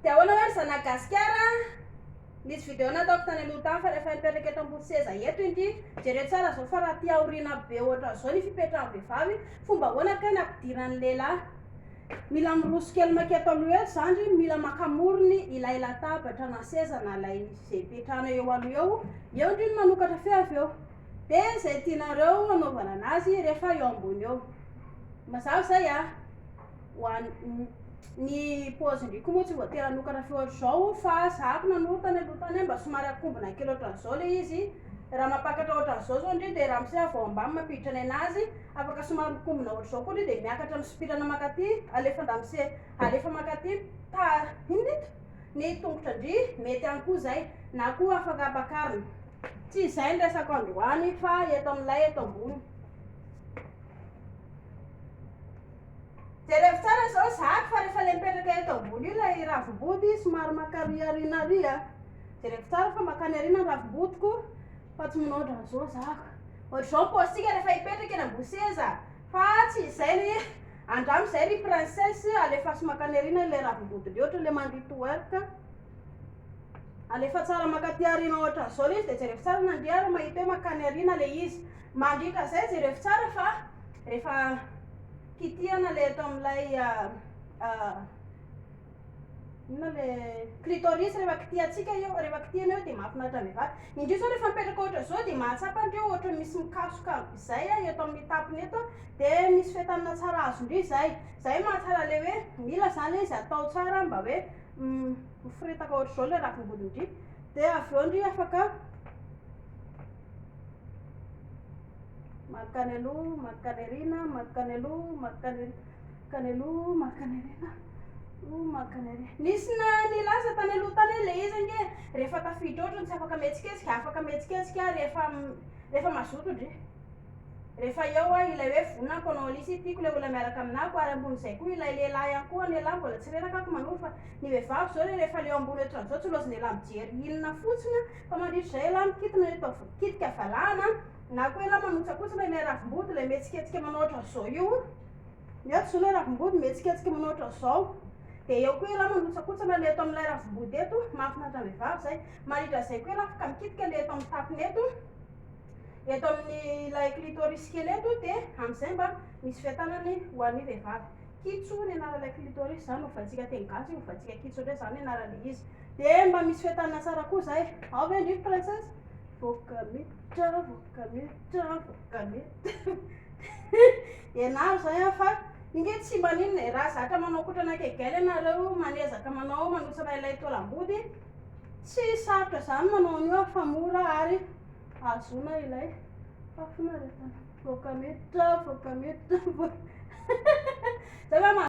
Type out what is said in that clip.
Dia ahoana hoe ry zanak'i Gasikara a! Nisy vidéo nataoko tany aloha tany fa rehefa hipetraka eto ambony seza eto inty, jereo tsara izao fa raha aty aoriana be ohatran'izao ny fipetrahan'ny vehivavy, fomba ahoana kay no hampidiran'ny lehilahy? Mila miroso kely mankety aloha eo zandry, mila maka morony ilay latabatra na seza na ilay izay hipetrahanao eo aloha eo, eo ndry no manokatra feo avy eo. Dia izay tianareo hanaovana anazy rehefa eo ambony eo. Mazava izay a! ho an ny pause ndry koa moa tsy voatery hanokana feo hatrizao fa za ko nanoro tany aloha tany mba somary akombona kely otran'zao le izy raha mampakatra otran'zao zao ndry de ramose avy ao ambany mampiditra ny anazy afaka somary mikombona otrizao koa ndry de miakatra misopirana makaty alefa andamose alefa makaty ta inona ito ny tongotra ndry mety ihany koa zay na koa afaka ampakarina tsy izay ny resako androany fa eto am'lay eto ambony Jerevo tsara zao zaka fa refa le mipetraka eto ambony io lay ravimboty somary maka ary arina ary a jerevo tsara fa makany arina ny ravimbotiko fa tsy manao otrany zao zaka ohatry zao ny postika refa hipetraka eny ambony seza fa tsy izay ry andramo izay ry princesse alefaso makany arina le ravimboty leotra le mandy to work alefa tsara makaty arina ohatry zao le izy de jerevo tsara nandihy ary mahita hoe makany arina le izy Mandritra izay jereko tsara fa rehefa kitihana ilay eto amin'ilay inona le clitoris rehefa kitihantsika eo rehefa kitihana eo dia mahafinaritra ny vata indrisy zao rehefa mipetraka ohatra izao dia mahatsapa an'ireo ohatra misy mikasoka izay eto amin'ny tapony eto dia misy fetanana tsara azo indrisy izay izay mahatsara le hoe mila izany izy atao tsara mba hoe miforetaka ohatra izao ilay ravim-body indrisy dia avy eo indrisy afaka Mankany aloha, mankany aoriana, mankany aloha, mankany mankany aloha, mankany aoriana, oh, mankany aoriana. Nisy na nilaza tany aloha tany hoe ilay izy ange rehefa tafiditra ohatra ny tsy afaka mihetsiketsika, afaka mihetsiketsika rehefa rehefa mazoto ndry. Rehefa eo aho ilay hoe vonako hanao an'isa i tiako ilay olona miaraka aminako ary ambonin'izay koa ilay lehilahy ihany koa ny an'elah mbola tsy reraka ako manova fa ny vehivavy izao re rehefa leo ambony ohatran'izao tsy loza ny elah mijery inona fotsiny an, Fa mandritra izay ialahy mikitina ny atao vokitika valahana na koa ialahy manotsakotsina ilay ravim-body, ilay mihetsiketsika manao ohatran'izao io. Ny ato izao ilay ravim-body mihetsiketsika manao ohatran'izao. Dia eo koa ialahy manotsakotsana ilay eto amin'ilay ravim-body eto, mahafinaritra ny vehivavy izay. Mandritra izay koa ialahy afaka mikitika ilay eto amin'ny tapony eto, eto amin'ilay clitoris kely eto dia amin'izay mba misy fiatanany ho an'ny vehivavy. Kitso ny anaran'ilay clitoris, izany ny hovantsika teny gasy, hovantsika kitso indray izany ny anaran'ilay izy. Dia mba misy fetanana tsara koa izay. Ao ve ndry ry princesse? Vovoka miditra, vovoka miditra, vovoka miditra. Ianaro izay an fa inge tsy mba n'inona e, raha zatra manao kotrana kegel ianareo, manezaka manao manotsana ilay taolam-body, tsy sarotra izany manao an'io an fa mora ary ahazoana ilay fahafinaretana. Vovoka miditra, vovoka miditra, vovoka miditra.